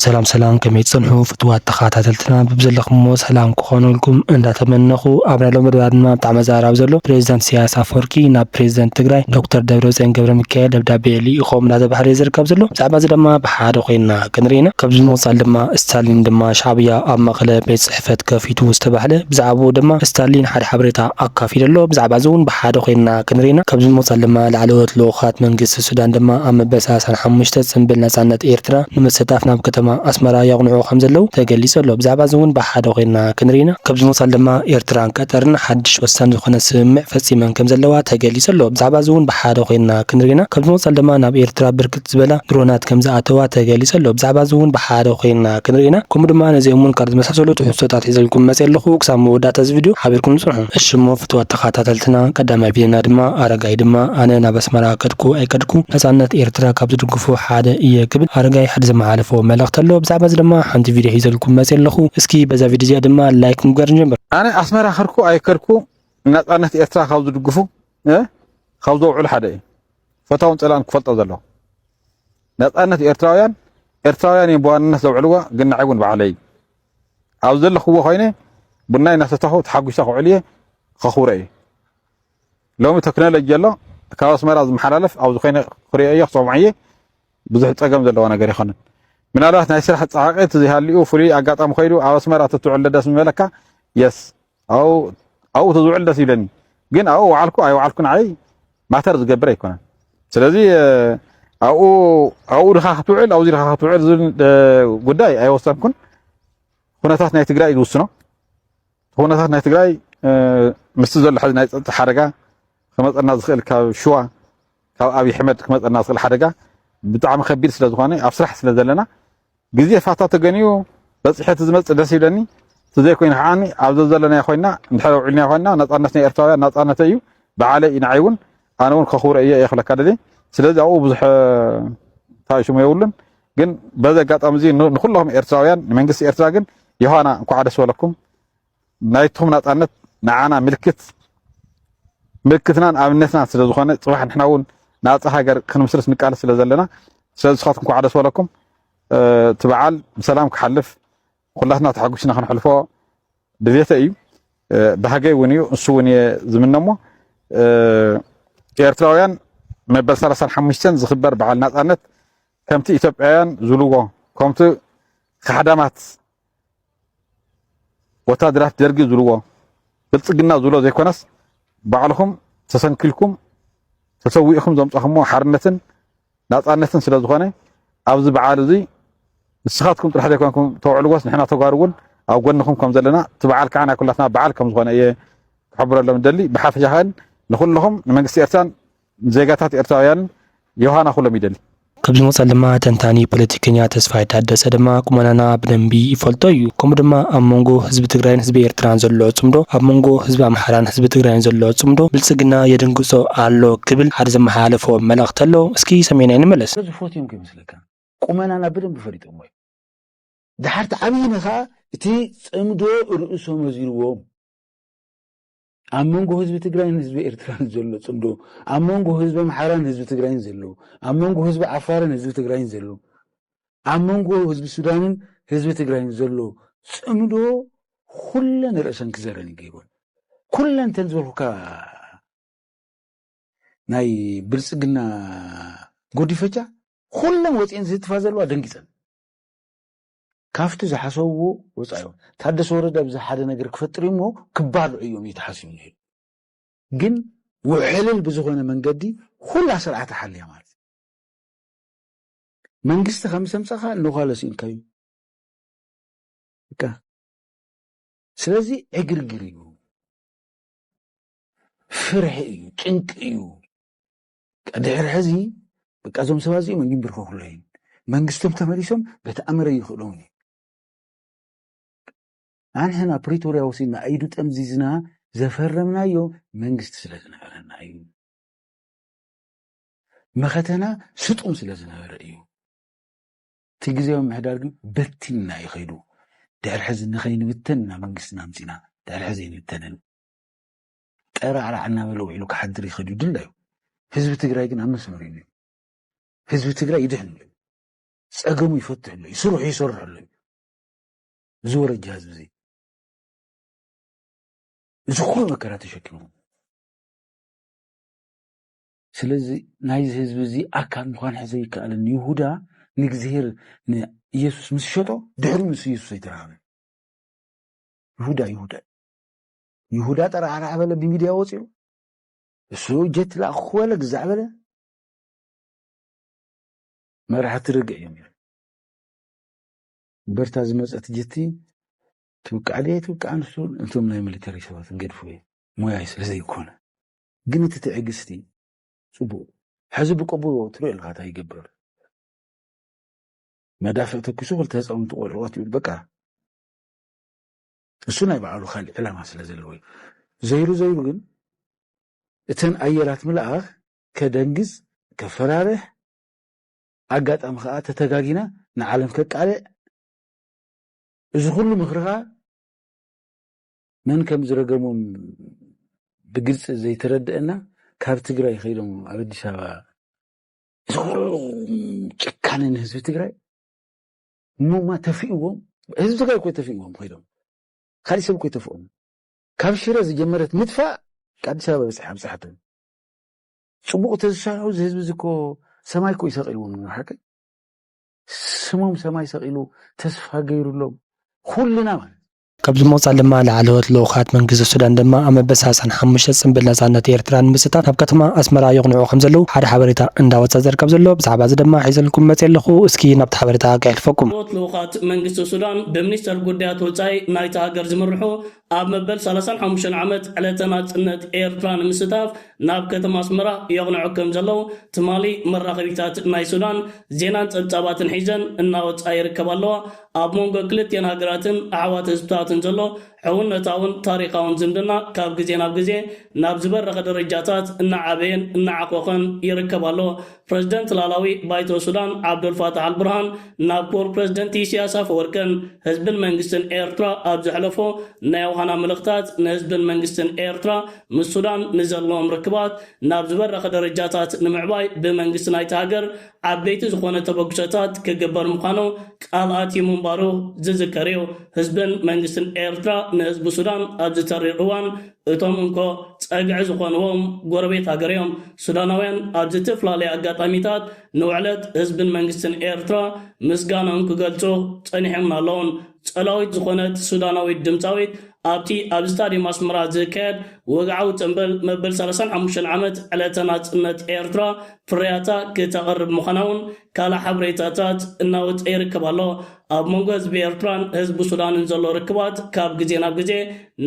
ሰላም ሰላም ከመይ ትጸንሑ ፍትዋት ተኻታተልትና ብብዘለኹምዎ ሰላም ክኾነልኩም እንዳተመነኹ ኣብ ናይ ሎሚ መደባት ድማ ብጣዕሚ ኣዘራራቢ ዘሎ ፕሬዚዳንት ኢሳያስ ኣፈወርቂ ናብ ፕሬዚደንት ትግራይ ዶክተር ደብረጽዮን ገብረሚካኤል ደብዳቤ ልኢኾም እንዳተባህለ እዩ ዝርከብ ዘሎ ብዛዕባ እዚ ድማ ብሓደ ኮይንና ክንርኢ ኢና ካብዚ ብምቕጻል ድማ ስታሊን ድማ ሻዕብያ ኣብ መቐለ ቤት ጽሕፈት ከፊቱ ዝተባህለ ብዛዕብኡ ድማ ስታሊን ሓደ ሓበሬታ ኣካፊሉ ኣሎ ብዛዕባ እዚ እውን ብሓደ ኮይንና ክንርኢ ኢና ካብዚ ብምቕጻል ድማ ላዕለዎት ልኡኻት መንግስቲ ሱዳን ድማ ኣብ መበል ሰላሳን ሓሙሽተ ጽንብል ናጻነት ኤርትራ ንምስታፍ ናብ ከተማ ኣስመራ የቕንዑ ከምዘለዉ ተገሊጹ ኣሎ። ብዛዕባዚ እውን ብሓደ ኮይንና ክንርኢ ኢና። ካብዚ ምቕጻል ድማ ኤርትራን ቀጠርን ሓድሽ ወሳኒ ዝኾነ ስምምዕ ፈጺመን ከምዘለዋ ተገሊጹ ኣሎ። ብዛዕባዚ እውን ብሓደ ኮይንና ክንርኢ ኢና። ካብዚ ምቕጻል ድማ ናብ ኤርትራ ብርክት ዝበላ ድሮናት ከምዝኣተዋ ተገሊጹ ኣሎ። ብዛዕባዚ እውን ብሓደ ኮይንና ክንርኢ ኢና። ከምኡ ድማ ነዚኦምን ካልኦት ዝመሳሰሉ ትሕዝቶታት ሒዘልኩም መጽየ ኣለኹ። ክሳብ መወዳእታ እዚ ቪድዮ ሓቢርኩም ጽንሑ። እሺ እሞ! ፍትዋት ተኻታተልትና ቀዳማይ ቢልና ድማ ኣረጋይ ድማ ኣነ ናብ ኣስመራ ከድኩ ኣይከድኩ ናጻነት ኤርትራ ካብ ዝድግፉ ሓደ ኢየ ክብል ኣረጋይ ሓደ ዘመሓለፎ መልእኽቲ ኣሎ ብዛዕባ እዚ ድማ ሓንቲ ቪድዮ ሒዘልኩም መጽየ ኣለኹ እስኪ በዛ ቪድዮ እዚኣ ድማ ላይክ ምግባር ንጀምር። ኣነ ኣስመራ ከድኩ ኣይከድኩ ንናጻነት ኤርትራ ካብ ዝድግፉ ካብ ዘውዕሉ ሓደ ኢየ ፈታውን ጸላእን ክፈልጦ ዘለዎ ናጻነት ኤርትራውያን ኤርትራውያን ኢዮም ብዋንነት ዘውዕልዋ ግን ንዓይ ውን ባዕለይ ኣብ ዘለኽዎ ኮይነ ቡናይ እናሰተኹ ተሓጒሰ ክውዕል እየ፣ ከኽብሮ እየ። ሎሚ ተክኖሎጂ ኣሎ፣ ካብ ኣስመራ ዝመሓላለፍ ኣብዚ ኮይነ ክሪኦ እየ፣ ክሰምዖ እየ፣ ብዙሕ ጸገም ዘለዎ ነገር ኣይኮነን። ምናልባት ናይ ስራሕ ጻዕቒ እንተዘይሃሊኡ ፍሉይ ኣጋጣሚ ኮይኑ ኣብ ኣስመራ ተትውዕል ደስ ምበለካ። የስ ኣብኡ ተዝውዕል ደስ ይብለኒ ግን ኣብኡ ወዓልኩ ኣይወዓልኩ ንዓይ ማተር ዝገብር ኣይኮነን ስለዚ ኣብኡ ኣብኡ ድኻ ክትውዕል ኣብዚ ድኻ ክትውዕል ዝብል ጉዳይ ኣይወሰንኩን ኩነታት ናይ ትግራይ ዝውስኖ ኩነታት ናይ ትግራይ ምስቲ ዘሎ ሕዚ ናይ ፀጥታ ሓደጋ ክመፀና ዝኽእል ካብ ሽዋ ካብ ኣብዪ ኣሕመድ ክመፀና ዝኽእል ሓደጋ ብጣዕሚ ከቢድ ስለ ዝኾነ ኣብ ስራሕ ስለ ዘለና ግዜ ፋታ ተገንዩ በጺሐ ትዝመጽእ ደስ ይብለኒ ትዘይ ኮይኑ ከዓኒ ኣብ ዘዘለናዮ ኮይና እንድሕር ውዒልናዮ ኮይና ናጻነት ናይ ኤርትራውያን ናጻነተይ እዩ ብዓለይ እዩ ንዓይ እውን ኣነ እውን ከኽብሮ እየ እየ ክብለካ ደልየ ስለዚ ኣብኡ ብዙሕ እንታይ ሽሙ የብሉን ግን በዚ ኣጋጣሚ እዚ ንኩሎም ኤርትራውያን ንመንግስቲ ኤርትራ ግን ዮሃና እንኳዕ ደስ በለኩም ናይቶም ናጻነት ንዓና ምልክት ምልክትናን ኣብነትናን ስለ ዝኾነ ጽባሕ ንሕና እውን ናጻ ሃገር ክንምስርት ንቃለስ ስለ ዘለና ስለዚ ንስኻትኩም ኳዕ ደስ በለኩም እቲ በዓል ብሰላም ክሓልፍ ኩላትና ተሓጒስና ክንሕልፎ ድሌተ እዩ ባህገይ እውን እዩ ንሱ እውን እየ ዝምነ እሞ ኤርትራውያን መበል 35 ዝኽበር በዓል ናጻነት ከምቲ ኢትዮጵያውያን ዝብልዎ ከምቲ ካሕዳማት ወታደራት ደርጊ ዝብልዎ ብልጽግና ዝብሎ ዘይኮነስ ባዕልኹም ተሰንኪልኩም ተሰዊእኹም ዘምጻኹምዎ ሓርነትን ናጻነትን ስለ ዝኾነ ኣብዚ በዓል እዚ ንስኻትኩም ጥራሕ ዘይኮንኩም ተውዕልዎስ ንሕና ተጓሩ እውን ኣብ ጎንኹም ከም ዘለና እቲ በዓል ከዓ ናይ ኩላትና በዓል ከም ዝኾነ እየ ክሕብረሎም ደሊ ብሓፈሻኸን ንኩልኹም ንመንግስቲ ኤርትራን ዜጋታት ኤርትራውያን ዮሃና ኩሎም ይደሊ። ኣብዚ መቀጸሊ ድማ ተንታኒ ፖለቲከኛ ተስፋይ ታደሰ ድማ ቁመናና ብደንቢ ይፈልጦ እዩ ከምኡ ድማ ኣብ መንጎ ህዝቢ ትግራይን ህዝቢ ኤርትራን ዘሎ ጽምዶ ኣብ መንጎ ህዝቢ ኣምሓራን ህዝቢ ትግራይን ዘሎ ጽምዶ ብልጽግና የደንግጾ ኣሎ ክብል ሓደ ዘመሓላለፎ መልእኽቲ ኣሎ እስኪ ሰሚዕናዮ ንመለስ። ስለዚ ፎትዮምካ ይመስለካ ቁመናና ብደንቢ ፈሊጦሞ እዮም። ደሓር ተዓብይና ከኣ እቲ ጽምዶ ርእሶም ኣዚርዎም። ኣብ መንጎ ህዝቢ ትግራይን ህዝቢ ኤርትራን ዘሎ ጽምዶ፣ ኣብ መንጎ ህዝቢ ኣምሓራን ህዝቢ ትግራይን ዘሎ፣ ኣብ መንጎ ህዝቢ ዓፋርን ህዝቢ ትግራይን ዘሎ፣ ኣብ መንጎ ህዝቢ ሱዳንን ህዝቢ ትግራይን ዘሎ ጽምዶ ኩለን ርእሰን ክዘረን ይገይሮን ኩለን ተን ዝበልኩካ ናይ ብልጽግና ጎዲፈቻ ኩለን ወፂኤን ዝህትፋ ዘለዋ ደንጊፀን ካፍቲ ዝሓሰብዎ ወጻኢ እዮም ታደሰ ወረደ ኣብዚ ሓደ ነገር ክፈጥር እዩ እሞ ክባልዑ እዮም እዩ ተሓሲቡ ነይሩ ግን ውሕልል ብዝኾነ መንገዲ ኹላ ስርዓት ሓልያ ማለት መንግስቲ ከም ምስ ኣምጻኻ እንዃለ ስኢንካዩ በቃ ስለዚ ዕግርግር እዩ ፍርሒ እዩ ጭንቂ እዩ ድሕሪ ሕዚ በቃ እዞም ሰባት እዚኦም ኣይምብርከኹሎ እዩን መንግስቶም ተመሊሶም በቲ ኣምረ ይኽእሎም እዩ ኣንሕና ፕሪቶርያ ወሲድና ኣይዱ ጠምዚዝና ዘፈረምናዮ መንግስቲ ስለ ዝነበረና እዩ መኸተና ስጡም ስለ ዝነበረ እዩ እቲ ግዜያዊ ምሕዳር ግን በቲንና እዩ ከይዱ ድሕሪ ሕዚ ንኸይንብተን ኢና መንግስትና ኣምፂና ድሕሪ ሕዚ ኣይንብተንን ጠራዕራዕ እናበለ ውዒሉ ክሓድር ይኽእል እዩ ድላዩ። ህዝቢ ትግራይ ግን ኣብ መስመር እዩ ነይሩ። ህዝቢ ትግራይ ይድሕን ኣሎ እዩ። ፀገሙ ይፈትሕ ኣሎ እዩ። ስርሑ ይሰርሕ ኣሎ እዩ። እዚ ወረጃ ህዝቢ እዚ እዚ ኩሉ መከራ ተሸኪሙ ስለዚ ናይዚ ህዝቢ እዚ ኣካል ምዃን ሕዘ ይከኣልን ይሁዳ ንእግዚሄር ንኢየሱስ ምስ ሸጦ ድሕሪ ምስ ኢየሱስ ኣይተረሃበ ይሁዳ ይሁዳ ይሁዳ ጠራዕራዕ በለ ብሚድያ ወፂኡ እሱ ጀት ላእኹ ክበለ ግዛዕ በለ መራሕቲ ርግዕ እዮም ነይሩ እምበርታ ዝመፀት ጀቲ ትብቃዕ ድየ ትብቃዕ ንሱ እንቶም ናይ ሚሊተሪ ሰባት ንገድፉ እየ ሞያይ ስለ ዘይኮነ ግን እቲ ትዕግስቲ ፅቡቅ ሕዚ ብቅቡል ትሪኦ ኣለካ እንታይ ይገብር መዳፍዕ ተኪሱ ክልተ ህፃውንቲ ቆልዑ ቀትሉ በቃ ንሱ ናይ ባዕሉ ካልእ ዕላማ ስለ ዘለዎ እዩ። ዘይሩ ዘይሩ ግን እተን ኣየራት ምልኣኽ ከደንግጽ፣ ከፈራርሕ፣ ኣጋጣሚ ከኣ ተተጋጊና ንዓለም ከቃልዕ፣ እዚ ኩሉ ምኽሪ ከኣ መን ከም ዝረገሞም ብግልጺ ዘይተረደኣና ካብ ትግራይ ከይዶም ኣብ ኣዲስ ኣበባ እዚ ኩሉ ጭካነ ንህዝቢ ትግራይ እሞማ ተፊእዎም ህዝቢ ትግራይ እኮ ተፊእዎም ኮይዶም ካሊእ ሰብ እኮ ይተፍኦም ካብ ሽረ ዝጀመረት ምጥፋእ ኣዲስ ኣበባ በፅሐ ኣብፅሐቶም ፅቡቅ ተዝሰርሑ እዚ ህዝቢ እዚ እኮ ሰማይ እኮ ይሰቂልዎም ንሓቂ ስሞም ሰማይ ሰቂሉ ተስፋ ገይሩሎም ኩልና ማለት ካብዚ ብምቕጻል ድማ ላዕለዎት ልኡኻት መንግስቲ ሱዳን ድማ ኣብ መበል ሰላሳን ሓሙሽተ ጽንብል ናጻነት ኤርትራ ንምስታፍ ናብ ከተማ ኣስመራ የቕንዑ ከምዘለዉ ሓደ ሓበሬታ እንዳወጸ ዝርከብ ዘሎ ብዛዕባ እዚ ድማ ሒዘልኩም መጺኤ ኣለኹ እስኪ ናብቲ ሓበሬታ ከየሕልፈኩም። ላዕለዎት ልኡኻት መንግስቲ ሱዳን ብሚኒስተር ጉዳያት ወጻኢ ናይታ ሃገር ዝምርሑ ኣብ መበል ሰላሳን ሓሙሽተን ዓመት ዕለተ ናጽነት ኤርትራ ንምስታፍ ናብ ከተማ ኣስመራ የቕንዑ ከምዘለዉ ትማሊ መራኸቢታት ናይ ሱዳን ዜናን ጸብጻባትን ሒዘን እናወጻ ይርከባ ኣለዋ። ኣብ መንጎ ክልቲኤን ሃገራትን ኣሕዋት ህዝብታትን ዘሎ ሕውነታውን ታሪኻውን ዝምድና ካብ ግዜ ናብ ግዜ ናብ ዝበረኸ ደረጃታት እናዓበየን እናዓኾኸን ይርከብ ኣሎ። ፕረዚደንት ላላዊ ባይቶ ሱዳን ዓብደልፋታሕ ኣልቡርሃን ናብ ክቡር ፕረዚደንት ኢሲያስ ኣፈወርቅን ህዝብን መንግስትን ኤርትራ ኣብ ዘሕለፎ ናይ ዮሃና መልእኽታት ንህዝብን መንግስትን ኤርትራ ምስ ሱዳን ንዘለዎም ርክባት ናብ ዝበረኸ ደረጃታት ንምዕባይ ብመንግስቲ ናይታ ሃገር ዓበይቲ ዝኾነ ተበግሶታት ክግበር ምዃኑ ቃል ኣትዩ ምንባሩ ዝዝከር እዩ። ህዝብን መንግስትን ኤርትራ ንህዝቢ ሱዳን ኣብዚ ተሪር እዋን እቶም እንኮ ጸግዒ ዝኾንዎም ጎረቤት ሃገር እዮም። ሱዳናውያን ኣብ ዝትፍላለየ ኣጋጣሚታት ንውዕለት ህዝብን መንግስትን ኤርትራ ምስጋንኦም ክገልጹ ጸኒሖምን ኣለዉን። ጸላዊት ዝኾነት ሱዳናዊት ድምጻዊት ኣብቲ ኣብ ስታድየም ኣስመራ ዝካየድ ወግዓዊ ጽንብል መበል ሰላሳን ሓሙሽተን ዓመት ዕለተ ናጽነት ኤርትራ ፍርያታ ክተቕርብ ምዃና'ውን ካልእ ሓበሬታታት እናወጸ ይርከብ ኣሎ። ኣብ መንጎ ህዝቢ ኤርትራን ህዝቢ ሱዳንን ዘሎ ርክባት ካብ ግዜ ናብ ግዜ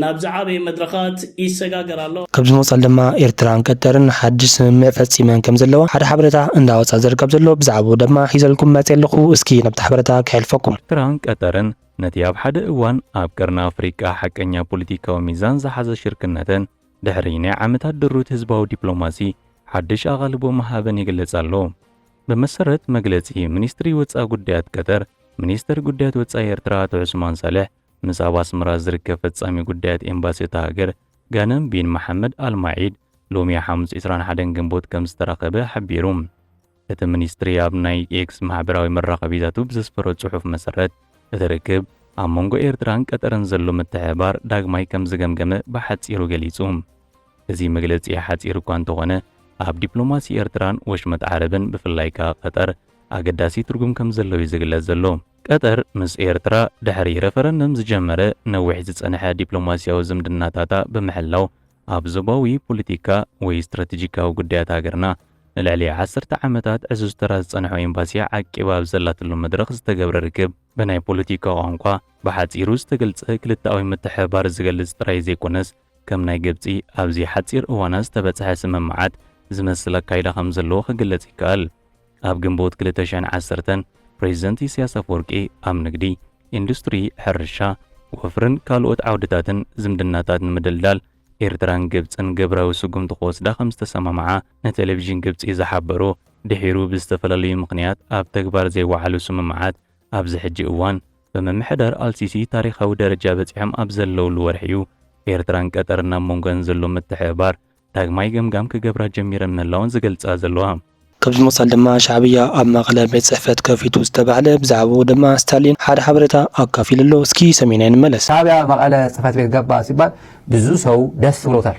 ናብ ዝዓበየ መድረኻት ይሰጋገር ኣሎ። ኣብ ዝመጽል ድማ ኤርትራን ቀጠርን ሓድሽ ስምምዕ ፈጺመን ከም ዘለዋ ሓደ ሓበረታ እንዳ ወጽኣ ዝርከብ ዘሎ ብዛዕብኡ ደማ ሒዘልኩም መጽየ ኣለኹ እስኪ ነብቲ ሓበረታ ከሕልፈኩም። ኤርትራን ቀጠርን ነቲ ኣብ ሓደ እዋን ኣብ ቀርኒ ኣፍሪቃ ሓቀኛ ፖሊቲካዊ ሚዛን ዝሓዘ ሽርክነተን ድሕሪ ናይ ዓመታት ድሩት ህዝባዊ ዲፕሎማሲ ሓድሽ ኣቓልቦ ምሃበን ይግለጽ ኣሎ። ብመሰረት መግለጺ ሚኒስትሪ ወጻኢ ጉዳያት ቀጠር፣ ሚኒስተር ጉዳያት ወጻኢ ኤርትራ ኣቶ ዑስማን ሳልሕ፣ ምስ ኣብ ኣስመራ ዝርከብ ፈጻሚ ጉዳያት ኤምባሲ እታ ሃገር ጋነም ቢን መሓመድ ኣል ማዒድ ሎሚ ሓሙስ ዕስራን ሓደን ግንቦት ከም ዝተራኸበ ሓቢሩ። እቲ ሚኒስትሪ ኣብ ናይ ኤክስ ማሕበራዊ መራኸቢታቱ ብዘስፈሮ ጽሑፍ መሰረት፣ እቲ ርክብ ኣብ መንጎ ኤርትራን ቀጠርን ዘሎ ምትሕብባር ዳግማይ ከም ዝገምገመ ብሓጺሩ ገሊጹ። እዚ መግለጺ ሓጺር እኳ እንተኾነ፣ ኣብ ዲፕሎማሲ ኤርትራን ወሽመጥ ዓረብን ብፍላይ ከኣ ቀጠር ኣገዳሲ ትርጉም ከም ዘሎ'ዩ ዝግለጽ ዘሎ። ቀጠር ምስ ኤርትራ ድሕሪ ረፈረንደም ዝጀመረ ነዊሕ ዝጸንሐ ዲፕሎማስያዊ ዝምድናታታ ብምሕላው ኣብ ዞባዊ ፖለቲካ ወይ ስትራተጂካዊ ጉዳያት ሃገርና ንልዕሊ ዓሰርተ ዓመታት ዕዙዝ ተራ ዝጸንሖ ኤምባሲኣ ዓቂባ ኣብ ዘላትሉ መድረኽ ዝተገብረ ርክብ ብናይ ፖለቲካ ቋንቋ ብሓጺሩ ዝተገልጸ ክልተኣዊ ምትሕብባር ዝገልጽ ጥራይ ዘይኮነስ ከም ናይ ግብጺ ኣብዚ ሓጺር እዋናት ዝተበጽሐ ስምምዓት ዝመስል ኣካይዳ ከም ዘለዎ ክግለጽ ይከኣል። ኣብ ግንቦት ክልተ ሽሕን ዓሰርተን ፕሬዚደንት ኢሳያስ ኣፈወርቂ ኣብ ንግዲ፣ ኢንዱስትሪ፣ ሕርሻ፣ ወፍርን ካልኦት ዓውድታትን ዝምድናታት ንምድልዳል ኤርትራን ግብጽን ግብራዊ ስጉምቲ ክወስዳ ከም ዝተሰማምዓ ንቴሌቪዥን ግብጺ ዝሓበሩ ድሒሩ ብዝተፈላለዩ ምኽንያት ኣብ ተግባር ዘይወዓሉ ስምምዓት ኣብዚ ሕጂ እዋን ብምምሕዳር ኣልሲሲ ታሪኻዊ ደረጃ በጺሖም ኣብ ዘለውሉ ወርሒ'ዩ ኤርትራን ቀጠርን ናብ መንጎኣን ዘሎ ምትሕብባር ዳግማይ ገምጋም ክገብራ ጀሚረን ምህላወን ዝገልጻ ዘለዋ። ከምዚ ብምቕጻል ድማ ሻዕብያ ኣብ መቐለ ቤት ጽሕፈት ከፊቱ ዝተባህለ ብዛዕባኡ ድማ ስታሊን ሓደ ሓበሬታ ኣካፊሉ ኣሎ እስኪ ሰሚዕናዮ ንመለስ። ሻዕብያ መቐለ ጽሕፈት ቤት ገባ ሲባል ብዙ ሰው ደስ ብሎታል።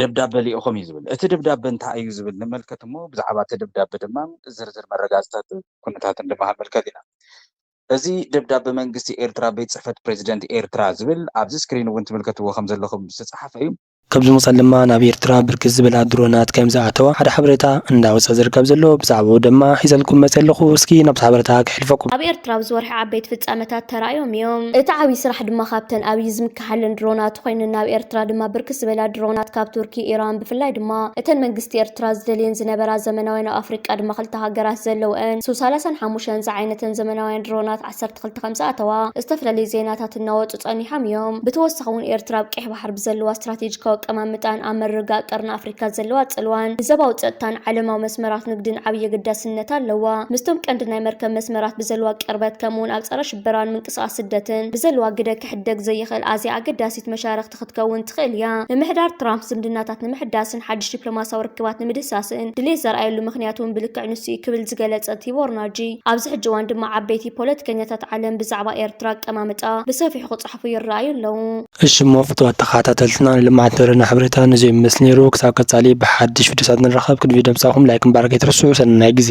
ደብዳበ ልኢኾም እዩ ዝብል። እቲ ደብዳበ እንታይ እዩ ዝብል ንመልከት እሞ ብዛዕባ እቲ ደብዳበ ድማ ዝርዝር መረጋፅታትን ኩነታትን ድማ ክንምልከት ኢና። እዚ ደብዳበ መንግስቲ ኤርትራ ቤት ፅሕፈት ፕረዚደንት ኤርትራ ዝብል ኣብዚ ስክሪን እውን ትምልከትዎ ከም ዘለኹም ዝተፅሓፈ እዩ። ካብዚ ወፃኢ ድማ ናብ ኤርትራ ብርክት ዝበላ ድሮናት ከም ዝኣተዋ ሓደ ሓበሬታ እንዳወፀ ዝርከብ ዘሎ ብዛዕብኡ ድማ ሒዘልኩም መፂኣ ኣለኹ። እስኪ ናብቲ ሓበሬታ ከሕልፈኩም። ኣብ ኤርትራ ኣብዚ ወርሒ ዓበይቲ ፍፃመታት ተራእዮም እዮም። እቲ ዓብዪ ስራሕ ድማ ካብተን ኣብይ ዝምከ። ዝሓልን ድሮናት ኮይነን ናብ ኤርትራ ድማ ብርክት ዝበላ ድሮናት ካብ ቱርኪ፣ ኢራን ብፍላይ ድማ እተን መንግስቲ ኤርትራ ዝደልየን ዝነበራ ዘመናውያን ኣብ ኣፍሪቃ ድማ ክልተ ሃገራት ዘለውኣን ሱ ሰላሳን ሓሙሽተን ዝዓይነተን ዘመናውያን ድሮናት ዓሰርተ ክልተ ከምዝኣተዋ ዝተፈላለዩ ዜናታት እናወጹ ጸኒሖም እዮም። ብተወሳኺ እውን ኤርትራ ኣብ ቀይሕ ባሕሪ ብዘለዋ ስትራቴጂካዊ ኣቀማምጣን ኣብ ምርግጋእ ቀርኒ ኣፍሪካ ዘለዋ ጽልዋን ንዘባዊ ጸጥታን ዓለማዊ መስመራት ንግድን ዓብይ ኣገዳስነት ኣለዋ። ምስቶም ቀንዲ ናይ መርከብ መስመራት ብዘለዋ ቅርበት ከምኡውን ኣብ ጸረ ሽበራን ምንቅስቓስ ስደትን ብዘለዋ ግደ ክሕደግ ዘይኽእል ኣዝያ ኣገዳሲት መሻርኽቲ ክትከውን ትኽእል እያ። ምምሕዳር ትራምፕ ዝምድናታት ንምሕዳስን ሓድሽ ዲፕሎማስያዊ ርክባት ንምድህሳስን ድሌት ዘርኣየሉ ምኽንያት እውን ብልክዕ ንሱ እዩ ክብል ዝገለጸ ቲቦርናጂ፣ ኣብዚ ሕጂ እዋን ድማ ዓበይቲ ፖለቲከኛታት ዓለም ብዛዕባ ኤርትራ ኣቀማምጣ ብሰፊሑ ክጽሕፉ ይረኣዩ ኣለዉ። እሺ እሞ ፍትዋት ተከታተልትና ንልምዓት ንደለና ሓበሬታ ነዙይ ይመስል ነይሩ ክሳብ ቀፃሊ ብሓድሽ ቪድዮታት ንራከብ ቅድሚ ቪድዮ ምብፃሕኩም ላይክ ምባል ከይትርስዑ ሰናይ ግዜ።